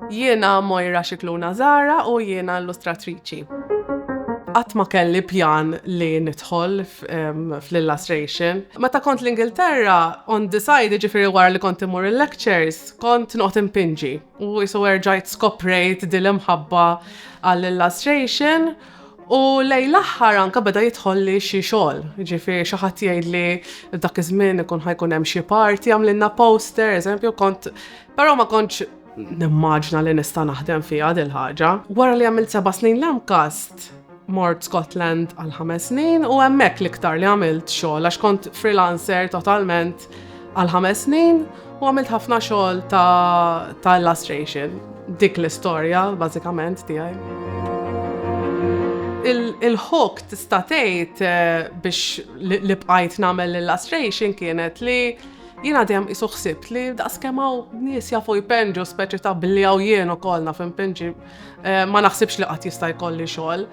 Jiena Moira Scicluna Zahra u jiena illustratriċi. Qatt ma kelli pjan li nidħol fl-illustration. Meta kont l-Ingilterra, on the side, jiġifieri wara li kont immur il-lectures, kont noqgħod inpinġi u qisu erġajt skoprejt din l-imħabba għall-illustration. U lejn l-aħħar anke beda jidħolli xi xogħol, ġifieri xi ħadd jgħidli dak iż-żmien ikun ħajkun hemm xi party għamlilna poster, eżempju kont però ma kontx nimmaġna li nista' naħdem fiha dil ħaġa. Wara li għamilt seba' snin l-MCAST, mort Scotland għal ħames snin u hemmhekk l-iktar li għamilt xogħol għax kont freelancer totalment għal ħames snin u għamilt ħafna xogħol ta' illustration. Dik l-istorja bażikament tiegħi. Il-ħok tista' tgħid eh, biex li bqajt nagħmel illustration kienet li jiena dejjem qisu ħsibt li daqskemm hawn nies jafu jpenġu speċi ta' biljaw jien ukoll naf impenġi eh, ma naħsibx li qatt jista' jkolli xogħol.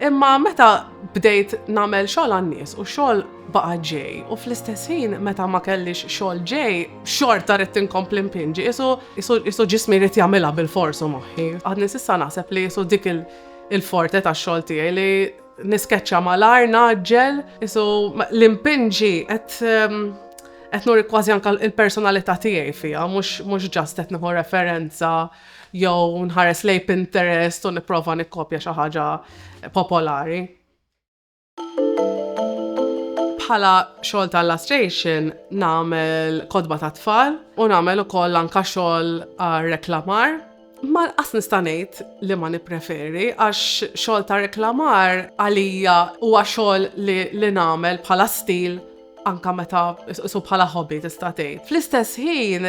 Imma meta bdejt nagħmel xogħol għan-nies u xogħol baqa' ġej u fl-istess ħin meta ma kellix xogħol ġej, xorta ridt inkompli npinġi, qisu ġismi jrid jagħmilha bilfors u moħħi. Għadni s'issa naħseb li qisu dik il-forte tax-xogħol tiegħi li niskeċċa malajr, ngħaġġel, qisu li npinġi qed ehm, qed nuri kważi anke l-personalità tiegħi fiha, mhux ġast qed nieħu referenza jew nħares lejn Pinterest u nipprova nikkopja xi ħaġa popolari. Bħala xogħol ta' illustration nagħmel kodba ta' tfal u nagħmel ukoll anka xogħol għal reklamar Ma nqas nista' ngħid li ma nippreferi għax xogħol ta' reklamar għalija huwa xogħol li nagħmel bħala stil anka meta su bħala hobby tista' tgħid. Fl-istess ħin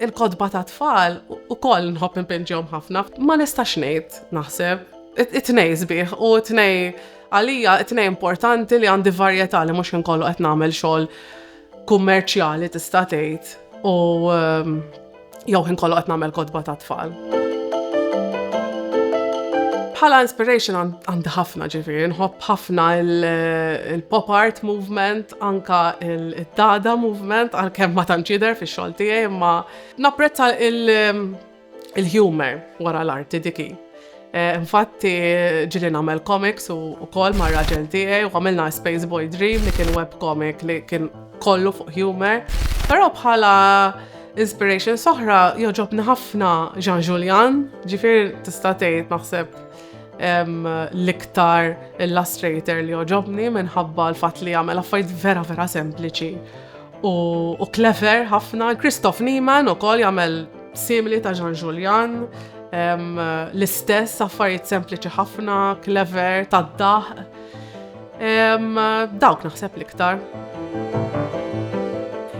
il-kodba ta' tfal ukoll nħobb impinġihom ħafna. Ma nistax ngħid naħseb it-tnej sbieħ u t-tnej għalija it-tnej importanti li għandi varjetà li mhux inkollu qed nagħmel xogħol kummerċjali tista' tgħid u jew ħin kollu qed nagħmel kotba ta' tfal. Bħala inspiration għandi ħafna ġifieri, nħobb ħafna il-pop art movement, anka il-dada movement, għalkemm ma tanċider fi xogħol tiegħi, imma napprezza il-humor wara l-arti diki. Infatti, ġili nagħmel comics u wkoll mar-raġel tiegħi u għamilna Space Boy Dream li kien web comic li kien kollu fuq humor. Però bħala inspiration soħra joġobni ħafna Jean Julian, ġifier tista' tgħid naħseb l-iktar illustrator li joġobni minħabba l-fatt li jagħmel affarijiet vera vera sempliċi. U clever ħafna, Christoph Niemann u kol jagħmel simili ta' Jean Julian, l-istess affarijiet sempliċi ħafna, clever, ta' daħ. Dawk naħseb l-iktar.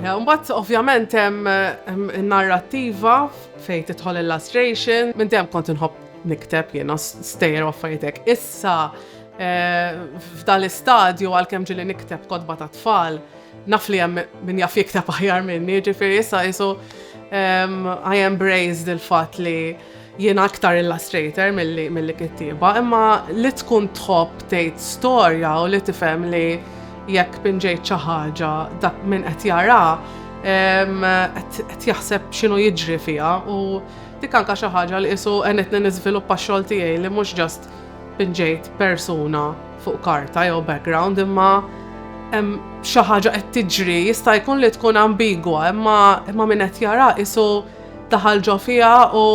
Mbatt, ovvjament, hemm narrativa fejn titħol illustration, minn dem kont inħobb nikteb jiena stejjer affaritek. Issa, eh, f'dal istadju għal-kem ġili nikteb kodba ta' tfal, Naf li hemm min jaf jikteb aħjar minni, ġifieri issa qisu ehm, I embraced il-fatt li jien aktar illustrator mill-li kittiba, imma li tkun tħobb tgħid storja u li tifhem li jekk pinġejt xi ħaġa dak minn qed jara qed jaħseb x'inhu jiġri fiha u dik anka xi ħaġa li qisu qenitni niżviluppa x-xogħol tiegħi li mhux ġast pinġejt persuna fuq karta jew background imma hemm xi ħaġa qed tiġri jista' jkun li tkun ambigwa imma imma min qed jara isu daħal ġo fiha u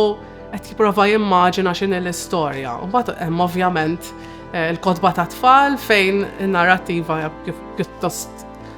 qed jipprova jimmaġina x'inhi l-istorja. U mbagħad hemm ovvjament eh, il-kotba ta' tfal fejn in-narrattiva pjuttost